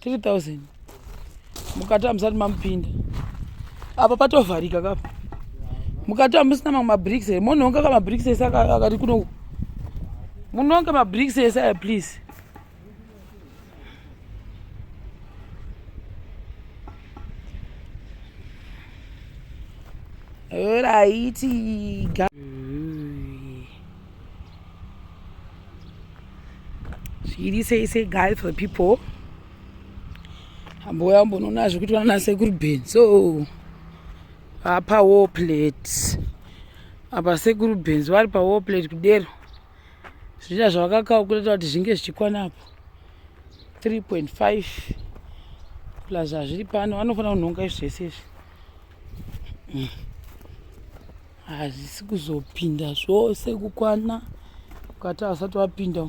3000 mukati hamusati mamupinda apa patovharika kapa mukati hamusina mamwe mabricks here monhonga ka mabricks ese akati kuno munonge mabricks ese aya please Alrighty. zviri sei sei guys for people ambouya ambonoona zvekuti vanasekuru ben so apa war plate apa sekuru benz vari pa war plate kudero zviita zvavakakawo kureta kuti zvinge zvichikwana apo 3.5 plus zvazviri pano vanofanira kunhonga izvi zvese izvi mm. hazvisi kuzopinda zvose kukwana ukati asati wapinda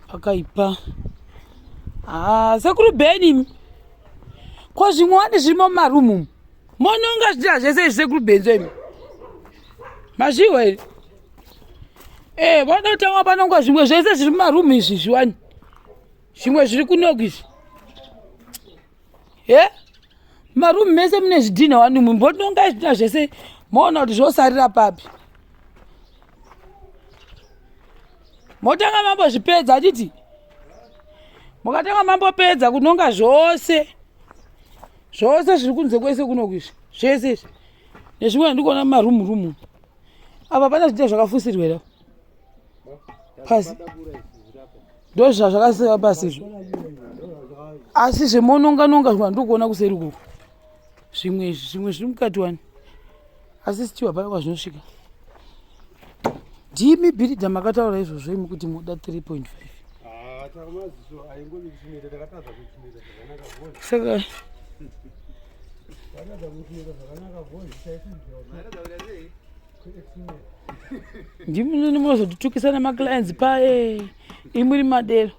pakaipa haa ah, sekuru beni ko zvimwe wani zvimo mumarumu mononga zvichira zvese izvi sekuru beni zvoimi mazviwa here ee eh, vanoda kutanga panonga zvimwe zvese zviri mumarumu izvi zviwani zvimwe zviri kunoku izvi he marumu mese mune zvidhinha wani mwe mbononga zvidhinha zvese moona kuti zvosarira papi motanga mambozvipedza achiti mukatanga mambopedza kunonga zvose zvose zviri kunze kwese kunokuizvi zvese izvi nezvimwe ndikuona marumu rumu apa pana zvidhinha zvakafusirwera pasi ndozvazvakaseva pasi izvo asi zvemononganonga zvima ndokuona kuseri kuku zvimwe izvi zvimwe zviri mukati wani asi sitiwa paya kwazvinosvika ndimi bhiridha makataura izvozvo imi kuti muda 3 point 5 saka ndimunini munozotitukisa nemaclients paye imuri madero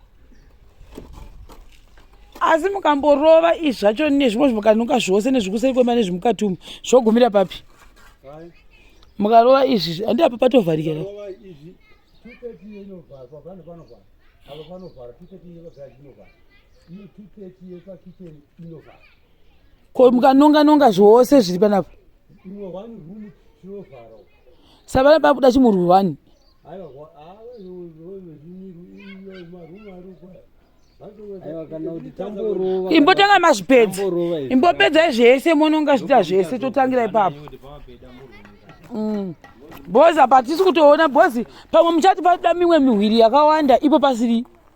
asi mukamborova izvi zvacho nezvimwe zvimukanuka zvose nezvikuseri kwema nezvimukati umu zvogumira papi mukarova izvi handi apa patovharika ko mukanonga nonga zvose zviri panapa savana pakuda chimurwi wani imbotanga mazvipedza imbopedzai zvese mononga zviita zvese totangira ipapo mm. bozi apa tisi kutoona bozi pamwe muchati paida mimwe mihwiri yakawanda ipo pasiri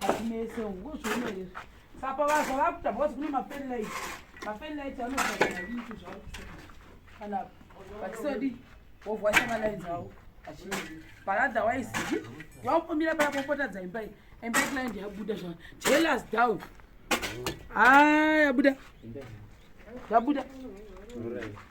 hatinese ngozviona here sapa vazva vakuta because kune mafellight mafellight anoaaaitu zvavo kana vachisodi wovwa shamalines avo achii but otherwise vakumbomira paya popotadza imbai imba client yabuda zva jealous down haa ah, yabuda yabuda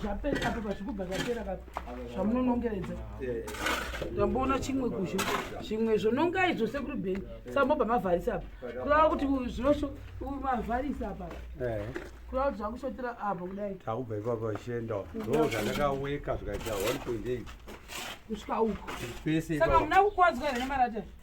zvapera apo pazvikubva zvapera ka zvamunonongeredza tamboona chimwe kuzvo zvimwe zvonongai zvose kuri bheni sambobva mavharisa apa kurava kuti zvinosho mavharisa apa kurava kuti zvakushotera apa kudai takubva ipapo vachienda ndo zvandakaweka zvikaita 1.8 kusvika uko pese saka muna kukwadzwa here nemarata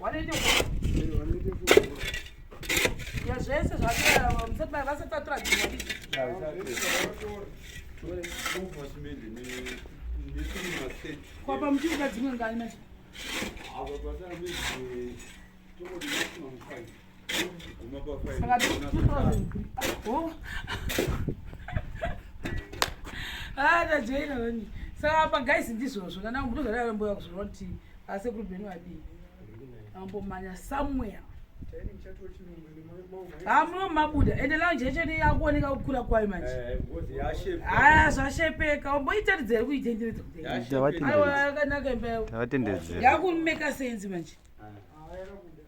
wanoita ya zvese zvavasati vatora kwapa muchiuka dzimwe ngani manje tajoinani saka apa guys ndizvozvo kana ndozvadara mboya kuzvona kuti asekuru benu vadii ambomanya somewhere hamuno mabuda ende lounge yacho ne yakuoneka kukura kwayo manje haya eh, zvashepeka omboitaridzere kuitenderedza kudayakanaka imba yavo yakumeka senzi manje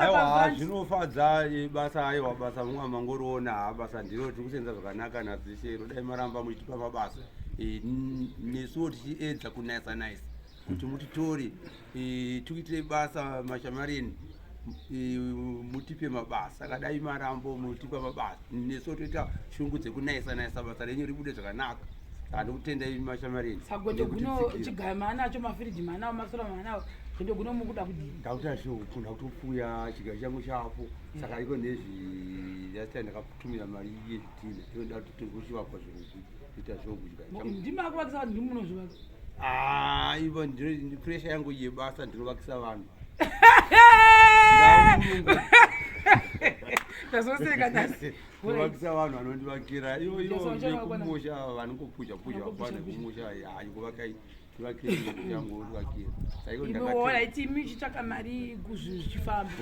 aiwa zvinofadza eh, basa aiwa basa vamwe amangoriona ha basa ndiro tiri kusenza zvakanaka nadzishero dai maramba muchitipa mabasa eh, nesuwo tichiedza kunayisa nayisa kuti mutitore eh, tikuitire basa mashamarini eh, mutipe mabasa akadai marambo mutipe mabasa nesu toita shungu dzekunayisa nayisa basa renyu ribude zvakanaka andikutenda imi mashamarini sagwete guno chigaya maanacho mafiriji maanawo masora maanawo zvende guno mukuda kudii ndakuta shungu ndakutopfuya chigaya changu chapo saka ariko nezvi last time ndakatumira mari yezvitina inoda kuti tiri kuchivakwa zvokuita zvokuchigaya changu ndimi akuvakisa vanhu ndimunozvivaka Ah, ivo ndiri pressure yangu yebasa ndinovakisa vanhu. Tazoseka tasi. Kuvakisa vanhu vanondivakira ivo ivo kumusha vanongopuja puja kwana kumusha hayi kuvaka tivakire yangu uvakire. Saiko ndakati. Ivo hayi timi chitsvaka mari kuzvi zvifamba.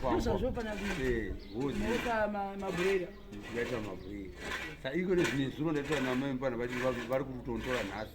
Kuzvazvo pana kuti. Eh, hozi. Mota mabrera. Ndikaita mabrera. Saiko nezvinezuro ndaita namai mpana vari kutontora nhasi.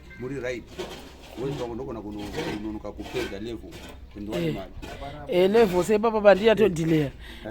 muri right wezvako ndogona kunonoka kupedza level 21 eh. mari eh, level sepapa bandiyatodhileya